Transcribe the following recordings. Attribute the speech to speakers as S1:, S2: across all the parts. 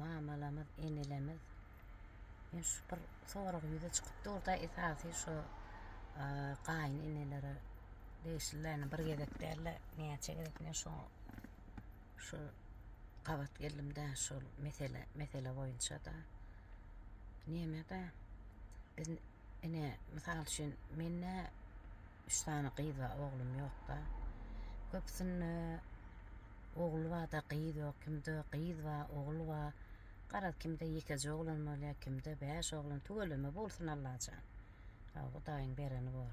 S1: Mamalamyz, enelemiz men şu bir sorag ýüze çykyp durda esasy şu gaýyn enelere degişli yani bir gezek däl-de näçe gezek men şu şu gabat geldim-de şu mesele mesele boýunça-da. Näme-de biz ine mysal üçin men nä Üç sany gyz bar oglum ýokda. Köpüsinde ogul barda gyz ýok kimde gyz bar ogul bar. Garaz kimde ýekeje oglan bolýa kimde bäş oglan tüweleme bolsun Allajan. Hawa Hudaýyň bereni bor.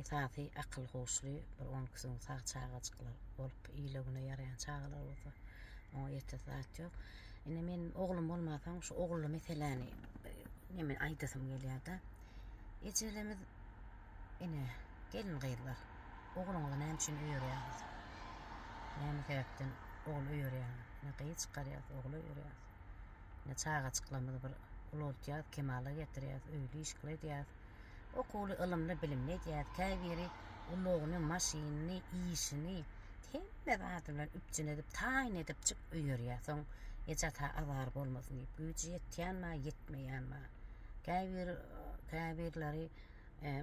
S1: Esasy akyl huşly bir on iki gün sag çagajyklar bolup ile güne ýaraýan çagalar bolsa oňa ýetesi zat ýok. Ine men oglum bolmansoň şu ogully meseläni neme aýdasym gelýärde. Ejelemiz ine gelin gyzlar ogluňyzy näme üçin öýerýäňiz? Näme sebäpden ogul öýerýäňiz? Ne gyz çykarýas, ogul öýerýäs. Ne çagajyklarymyzy bir ulaltýas, kemala getirýäs, öýli işgili edýäs. Okuwly, ylymly, bilimli edýäs. Käbiri ulagyny, maşynyny, işini hemme zady bilen üpjün edip, taýyn edipjik öýerýär. Soň eje-ata azar bolmasyn diýip, güýji ýetýänmi, ýetmeýänmi? Käbir käbirleri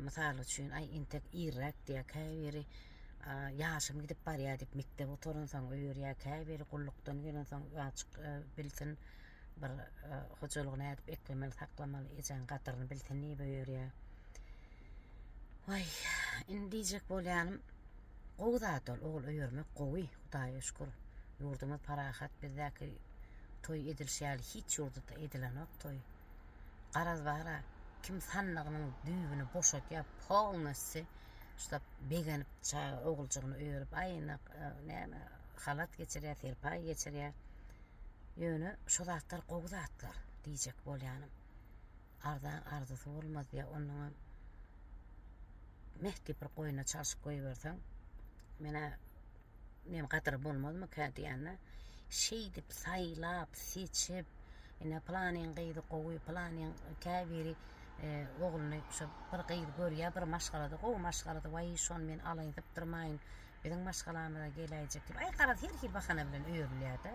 S1: mysal üçin aý intek irräk diýýär, käbiri ýaşym gidip barýar diýip mekdep gutaransoň öýerýär, käbiri gullukdan gelensoň azjyk bilsin bir hojalygy nädip eklemeli saklamaly ejäň gadyryny bilsin diýip öýerýär. Waý indi diýjek bolýanym gowy zat ol ogul öýermek gowy. Hudaýa şükür, ýurdumyz parahat, bizdäki toý edilişi ýaly hiç ýurdda edilenok toý. Garaz bara kim sandygynyň düýbüni boşadýar, polnossi şuda begenip çaga oguljygyny örüp, aýnak, näme, halat geçirýär, serpaý geçirýär. Ýöne şu zatlar gowy zatlar diýjek bolýanym. Arzaň arzysy bolmaz diýýär. Onnoňam meh diýip bir goýna çalşyp goýberseň, menä nem gadyry bolmazmyka diýende, şeýdip saýlap, seçip, ine pylanyň gyzy gowy, pylanyň käbiri e, ogluny şu bir gyz görýär, bir maşgalada, gowy maşgalada, waý şony men alaýyn, sypdyrmaýyn, biziň maşgalamyza geläýjek diýip, aý garaz her hil bahana bilen öýrülýär-de.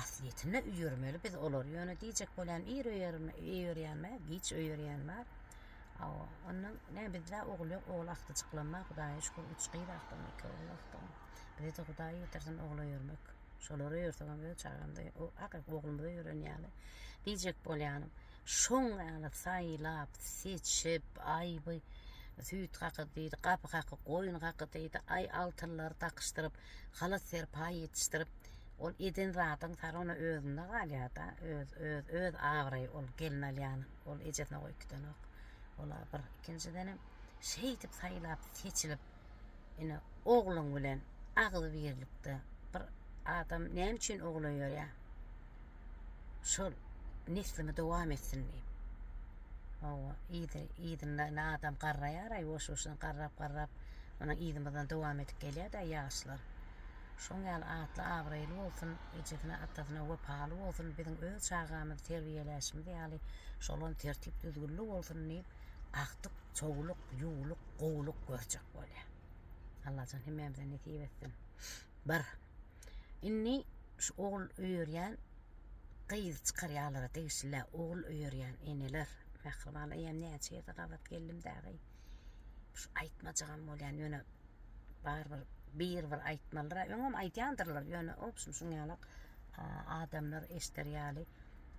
S1: Aslyýetinde üýermeli biz olary ýöne diýjek bolýan ir öýerýän bar giç öýerýän bar awa onda ne bizde ogul ýok ogul agtyjyklam bar hudaýa şükür üç gyz agtym iki ogul agtym bize de hudaý ýetirsin ogul öýermek şolary öýersegem öz çagamda o akyl oglumda öýeren ýaly diýjek bolýanym şoň ýaly saýlap seçip aýby süýt haky diýdi gapy haky goýun haky diýdi aý altynlary dakyşdyryp Halas serpaý ýetişdirip ol eden zadyň sary ona özünde galýada öz öz öz abraýy ol gelin alýan ol ejesine goýup gidenok ola bir ikinjidenem şeýdip saýlap seçilip ine ogluň bilen agzybirlikde bir adam näme üçin ogul öýerýär şol neslimi dowam etsin diýip. Hawa, yzy, yzyndan adam garraýar-aý, boş-boşuna garrap-garrap, munuň yzymyzdan dowam edip gelýär-dä ýaşlar. Şoň ýaly atly, abraýly bolsun, ejesine, atasyna wepaly bolsun, biziň öz çagamyzy terbiýeläşimiz ýaly, şolam tertip-düzgünli bolsun diýip, akdyk, çowluk, ýuwluk, gowuluk görjek bolýar. Allajan hemmämize nesip etsin. Bir. Indi şu ogul öýerýän gyz çykarýalara degişli ogul öýerýän eneler mähriban eýem näçe ýerde gabat geldim dagy şu aýtmajagam bolýan ýöne bar bir bir bir aýtmalyra öňem aýdýandyrlar ýöne obşum şuň ýalak adamlar eşder ýaly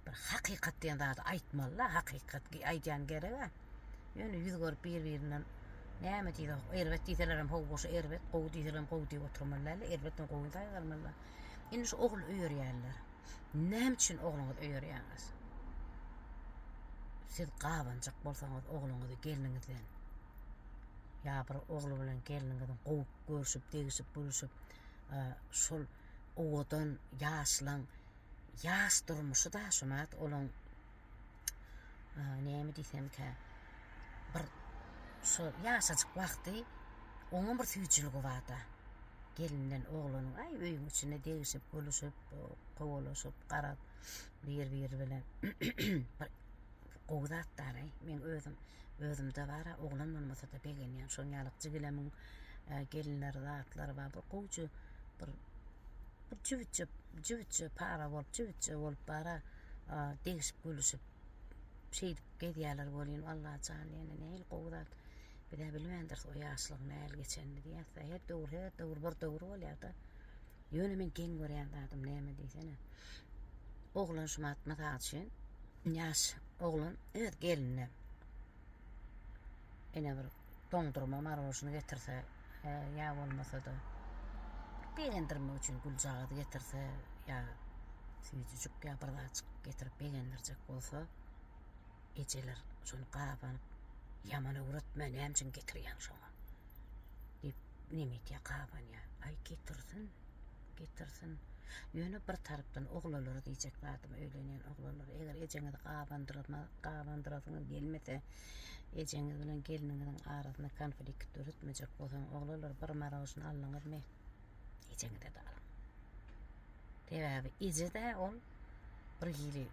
S1: bir hakykat diýen zady aýtmalyla hakykat aýdýan gerek-ä. Ýöne ýüz görüp bir-birinden näme diýsek, erbet diýselerem hawa goşa erbet, gowy diýselerem gowy diýip oturmaly däldi, erbetden gowy saýgarmaly. Indi şu ogul öýerýänler. Näme üçin ogluňyzy öýerýäňiz? Siz gabanjak bolsaňyz ogluňyzy gelniňizden ýa bir ogly bilen gelniňiziň gowy görşüp, degişip, gülüşip, şol owadan, ýaşlaň, ýaş durmuşy-da şu näet olaň näme diýsemkä, bir şu ýaşajyk wagty oňa bir süýjüligi barda. Gelinden oglanyň aý öýüň içinde degişip, gülüşip, kowalaşyp, garap bir-biri bilen bir gowy zatdar-aý. Men özüm, özümde bar-a, oglan bolmasa-da begenýän. Şoň ýaly jigilemiň gelinleri, zatlary bar. Bir gowja bir Bu jübütçe, jübütçe para bolup, jübütçe bolup bara degişip gülüşip şeýdip gezýärler welin Allah jan ýene nähili gowy zat. Bizä bilmändiris o ýaşlygyň nähili geçenini diýýäs. Her döwür, her döwür bir döwür bolýar-da. Ýöne men geň görýän zadym näme diýsene. Oglan şu mat mysal üçin ýaş oglan öz gelinine ene bir Doňdurma marožny getirse ýa bolmasa-da begendirmek üçin güljagazy getirse ýa süýjüjik ýa bir zatjyk getirip begendirjek bolsa ejeler şony gabanyp ýaman öwretme näme üçin getirýäň şoňa diýip neme etýär gabanýar. Aý getirsin getirsin ýöne bir tarapdan oglanlara diýjek zadym öýlenýän oglanlar eger ejeňizi gabandyrma gabandyrasyňyz gelmese Ejeňiz bilen gelniňiziň arasynda konflikt döretmejek bolsaň, oglanlar bir marožna aldyňyzmy, ejeňize-de alyň. Sebäbi eje-de ol bir hili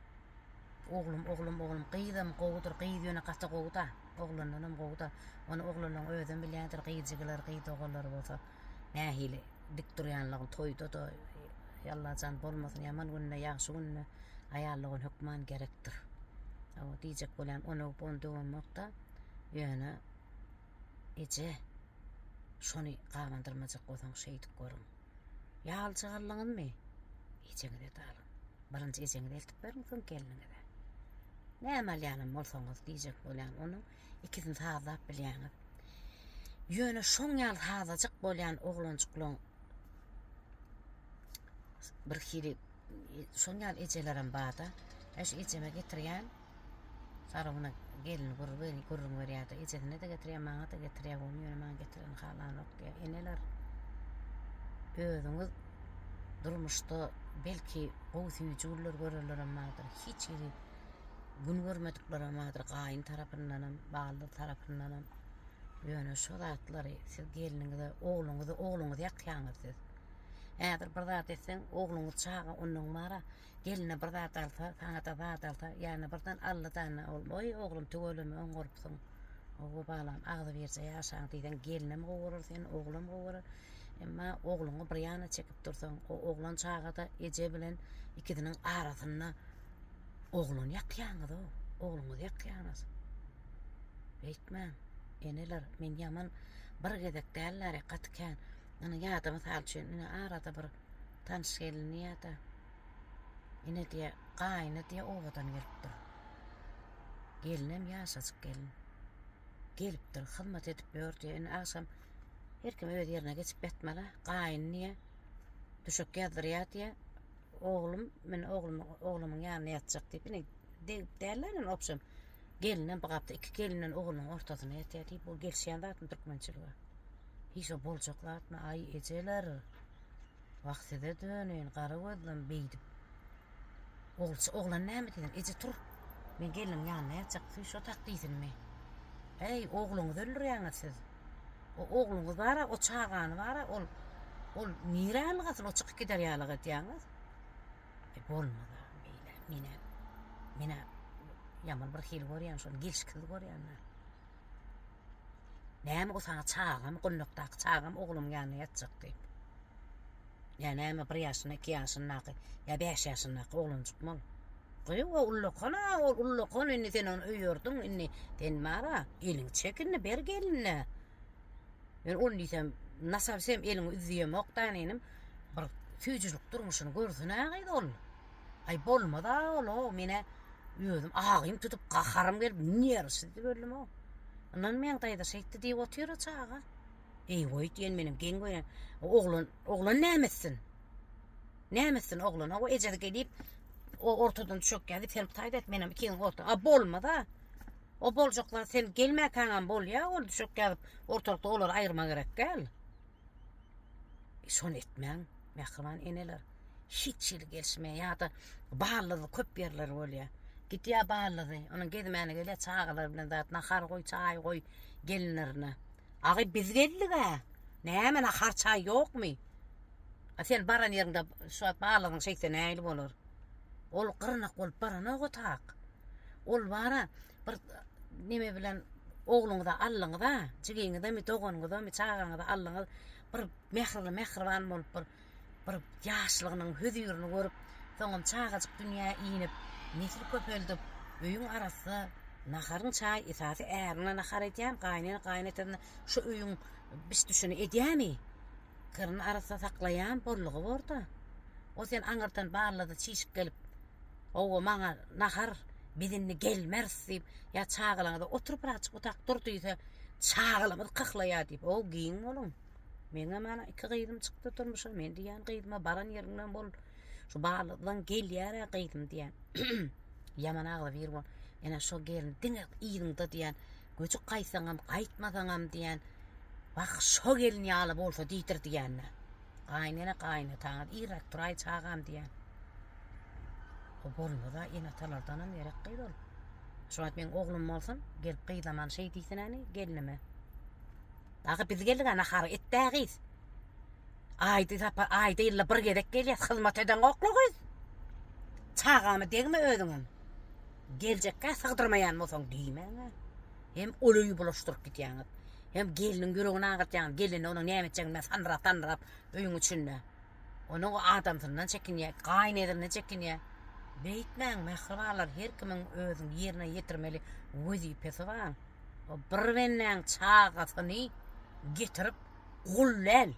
S1: oglum, oglum, oglum, gyzam gowudyr, gyz ýöne gaty gowy-da, oglandanam gowy-da. Ony oglanlaryň özem bilýändir, gyz jigilary, gyz doganlary bolsa. Nähili dik durýanlygyň toýda-da ýallajan bolmasyn, ýaman günde, ýagşy günde aýallygyň hökman gerekdir. Hawa, diýjek bolýan onobon döwemok-da, ýöne eje, şony gabandyrmajak bolsaň şeýdip görüň. Ýa aljak aldyňyzmy? Ejeňize-de alyň. Birinji ejeňize eltip beriň, soň gelniňize. Näme alýanam bolsaňyz, diýjek bolýan onuň ikisini sazlap bilýäňiz. Ýöne şoň ýaly sazajyk bolýan oglanjyklaň bir hili şoň ýaly ejelerem barda. Eş ejeme getirýän Saraguna gelin gurur beni gurrun berýärdi. Ejesine de getirýär, maňa da getirýär. Ony ýöne maňa getiren halanok diýär. Eneler özüňiz durmuşda belki gowy süýji günler görenlerem bardyr. Hiç hili Gün görmediklerem bardyr gaýyn tarapyndanam, baldyz tarapyndanam. Ýöne şo zatlary siz gelniňize, ogluňyzy, ogluňyzy ýakýaňyz siz. Häzir bir zat etseň, ogluňyz çaga ondan bara, gelne bir zat alsa, saňa-da zat alsa, ýa-da birden aldy-da, ol, Oý, oglum, tüweleme, oňarypsyň. Oba balam, agzybirje ýaşaň diýseň, gelnem gowy bolar seni, oglam gowy bolar. Emma ogluňy bir ýana çekip dursaň, o oglan çaga-da eje bilen ikisiniň arasynda oglany ýakýaňyz-ow, ogluňyzy ýakýaňyz. Beýtmäň, eneler, men ýaman bir gezek däl-de, gaty kän, ýöne ýa-da mysal üçin, ine, arada bir tanyş gelini ýa-da, ine diýe, gaýyny diýe obadan gelip dur. Gelinem ýaşajyk gelin. Gelipdir, hyzmat edip ýör diýe, indi agşam, Her kim öz yerine geçip yatmaly. Gaýyn diye düşek ýazdyrýar diye oglum men oglum oglumyň ýanyna ýatjak diýip ine degip däller indi obşem gelinem bu gapda iki gelinen oglunyň ortasyna ýatýar diýip bu gelişýän zatmy türkmençilige hiç o boljak zatmy aý ejeler wah size döneýin gara gözlem beýdip Ogulçy, oglan näme diýýär? Eje, tur. Men gelniň ýanynda ýatjak. Sen şo tak diýsinmi? Äý, ogluňyzy öldürýäňiz siz. O ogluňyz bar-a, o çagany bar-a, ol, ol nirä ylgasyn, o çykyp gider ýalyk edýäňiz? E, bolmaz-a beýle. Men-ä, men-ä ýaman birhili görýän şony, gelşiksiz görýän-ä. Näme o saňa çagam, gullukdaky çagam ogluň ýanynda ýatjak diýip. Ýa näme bir ýaşyna, iki ýaşyndaky, ýa bäş ýaşyndaky oglanjykmy ol? Goý, o ullakan-a, ol ullakan, indi sen ony öýerdiň, indi sen bar-a, eliňi çek indi, ber gelnine. Men ony diýsem, nasabysem eliňi üzýemok-da, inim. Bir süýjülik durmuşyny görsün-ä gyz ol. Aý bolmaz-a ol-a, men-ä özüm agym tutup, gaharym gelip, nerwsizdi öldüm-ow. Yndan meň daýza şeýtdi diýip otyr-a çaga. Eý-weý diýen menem geň gören. Oglan, oglan näme etsin? Näme etsin oglan? Hawa ejesi gelip, o ortadan düşek gelip, sen taýt et, menem ikiňiziň orta. A bolmaz-a. O boljaklar sen gelmäkäňem bolýa, ol düşek gelip, ortalykda olary aýyrmak gerek däl. Şony etmäň, mähriban eneler. Hiç hili gelişmeýär ýa-da ballyzy köp ýerler bolýar. Gidýär ballyzy, onuň gezmäne gelýär çagalar bilen zat, nahar goý, çaý goý gelinlerine. Agy biz geldik-ä. Näme nahar, çaý ýokmy? A sen baran ýeriňde şu wagt ballyzyň şeýtse nähili bolar? Ol gyrnak bolup baranok otak. Ol bara Bir neme bilen ogluňyza allyňyza, jigiňizemi, doganyňyzamy, çagaňyza allyňyz, bir mährili, mähriban bolup bir bir ýaşlygynyň hüzirini görüp, soňam çagajyk dünýä inip, nesil köpeldip, öýüň arassa naharyň çaý esasy ärine nahar edýän, gaýnene gaýynatasyna şu öýüň biş-düşüni edýämi? Gyryny arassa saklaýan bollugy bor-da. O sen aňyrdan ballada çişip gelip, Hawa, maňa nahar, biz indi gelmeris diýip, ýa çagalaňyza otur bir azajyk otyrk dur diýse, çagalarymyz kyhlaýar diýip, o giň boluň. Meňem ana iki gyzym çykdy durmuşa, men diýýän gyzyma baran ýeriňden bol. Şu Balydan gelýär-ä gyzym diýýän. Ýaman agzybir bol. Ene şo gelin diňe yzyňda diýýän. Göçüp gaýtsaňam, gaýtmasaňam diýýän. Wah, şo gelin ýaly bolsa diýdir diýýän. Gaýnene gaýnataňyz irräk turaý çagam diýýän. O bolmaz-a, ene-atalardanam gerek gyz ol. Şu wagt meň oglum bolsun, gelip gyzlaman şeý diýsinäni gelnime. Dagy biz geldik-ä nahara, et-dä gyz. Aýda sapar, aýda ýylda bir gezek gelýäs, hyzmat edeňokla gyz. Çagama degme özüňem. Geljekkä sygdyrmaýan bolsaň diýmäň-ä. Hem ol öýi bulaşdyryp gidýäňiz. Hem gelniň ýüregini agyrtýaňyz, gelnine onuň näme etjegini sanrap-sanrap öýüň içinde. Onuň o adamsyndan çekinýär, gaýynezrinden çekinýär. Beýtmäň, mähribanlar, her kimiň özüniň ýerine ýetirmeli wezipesi bar. O bir bendäň çagasyny getirip gul däl.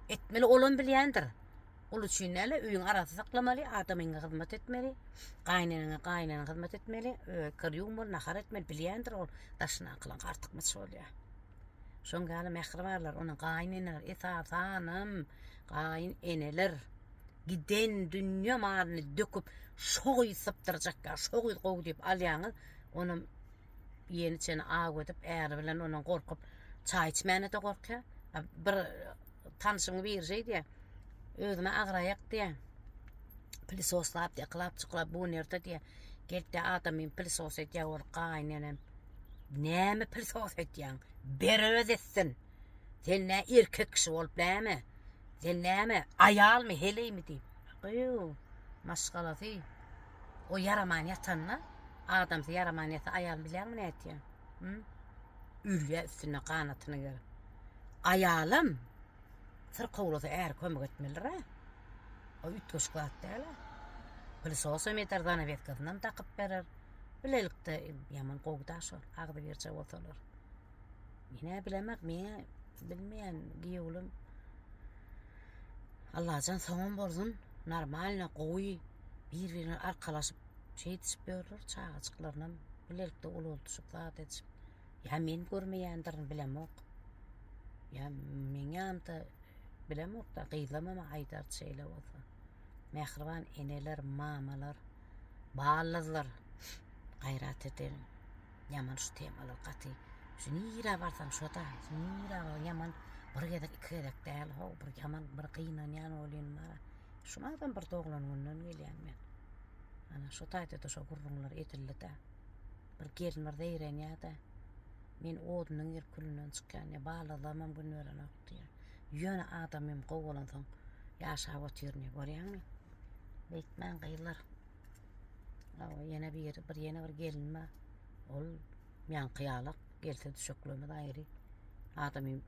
S1: Etmeli olam bilýändir. Gul üçin näle, öýüň arasy saklamaly, adamyňa hyzmat etmeli, gaýyneneňe, gaýynenä hyzmat etmeli, kir ýuwmaly, nahar etmeli, bilýändir ol daşyna akylyň artykmaç bolýar. Şoň ýaly mähribarlar, onuň gaýyn eneler, esasanam gaýyn eneler giden dünýe malyny döküp, şo gyz sypdyrjak ýa şo gyz gowy diýip alýaňyz, onuň ýeni çeni aw edip, äri bilen onuň gorkup çaý içmäne-de gorkýar. Bir tanşyň biri şeý diýýär, özüme agraýak diýýär. Pilisoslap, ýyklap, çyklap, bu nirde diýýär. Gelip diýýär, adamym pilisos edýär, ol gaýyn enem. Näme pil sos etýäň? Ber öz etsin. Sen nä erkek kişi bolup näme? Sen näme aýalmy, heleými diýip. Gyýw, maşgalasy. O ýaraman ýatanda, adamsy ýaraman ýasa aýal bilýäňmi nätýä? Hü? Ölýä üstünde ganatyny gerip. Aýalam syrkawlasa äri kömek etmelidir-ä. O üýtgeşik zat däl-ä. Pil sosam eder, zanawetkasynam dakyp berer. Bilelikde ýaman gowy da şol agzybirje bolsalar. Mine bilemek meňe bilmeýän giýewlim. Allajan soňam bolsun normalno gowy bir-birine arkalaşyp şeýdişip ýörler çagajyklarynam bilelikde ulaldyşyp zat edişip. Ýa men görmeýändirin bilemok. Ýa meňämde bilemok da gyzlamama aýdar şeýle bolsa. Mähriban eneler, mamalar. Baldızlar gaýrat ediň. Ýaman şu temalar gaty. Şu nirä barsaň şoda. Şu nirä bar ýaman bir gezek iki gezek däl how bir ýaman bir gynanýan bolýan bara. Şuny adam bir doglan günden gelýän men. Ana şu taýda da şu gurrunlar edildi de. Bir gelin bir zeýrenýär de. Men odunyň gelip külünden çykýan ýa baldızlam hem gün berenok diýýär. Ýöne adam hem gowy bolansoň ýaşap otyryn görýäňmi? Beýtmäň gyzlar. Awa ýene bir bir ýene bir gelin bar. Ol ýaňky ýalak gelse düşeklemez aýry. Adamy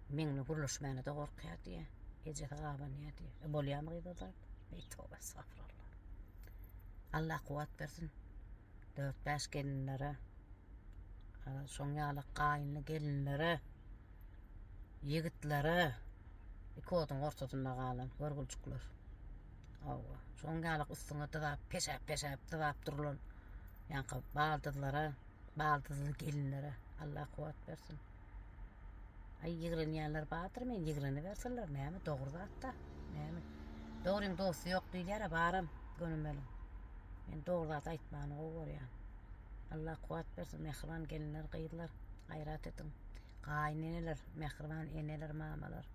S1: meňle gürleşmäne de gorkýar diýe. Ejesi gabanýar diýe. E bolýamy gyz ozal? Ey toba estagfirullah. Allah kuwat bersin. 4-5 gelinlere. Şoň ýalak gaýynly gelinlere. Ýigitlere iki oduň ortasynda galan görgüljikler. Hawa, şoň ýalyk üstüňe dyzap, peşäp-peşäp dyzap durulan ýaňky baldyzlara, baldyzly gelinlere Allah kuwwat bersin. Aý ýigrenýänler bardyr, men ýigrenibersinler, näme dogry zat-da. Näme? Dogryň dosty ýok diýilýär-ä, baram, gönümeliň. Men dogry zat aýtmany gowy görýän. Allah kuwwat bersin, mähriban gelinler, gyzlar, gaýrat ediň. Gaýneneler, mähriban eneler, mamalar.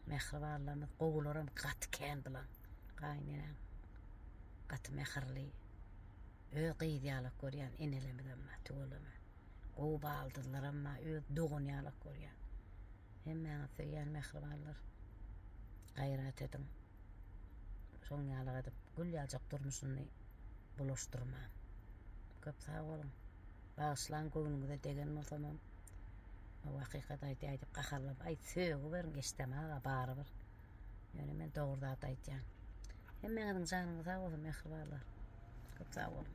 S1: Mähribanlarymyz, gowularam gaty kän bilen. Gaýnenem gaty mähirli. Öz gyzy ýalak görýän enelemizem bar, tüweleme. Gowy baldyzlaram bar, öz dogany ýalak görýän. Hemmäňiz söýýän mähribanlar. Gaýrat ediň. Şoň ýalak edip, gül ýaljak durmuşyny bulaşdyrmaň. Köp sag boluň. Bagyşlaň göwnüňize degen bolsamam hakykat aýtýaý diýip gaharlap aýt sögüberiň Eşdem aga barybir ýöne men dogry zat aýtýan hemmeňiziň janyňyz sag bolsun mähribanlar köp sag boluň.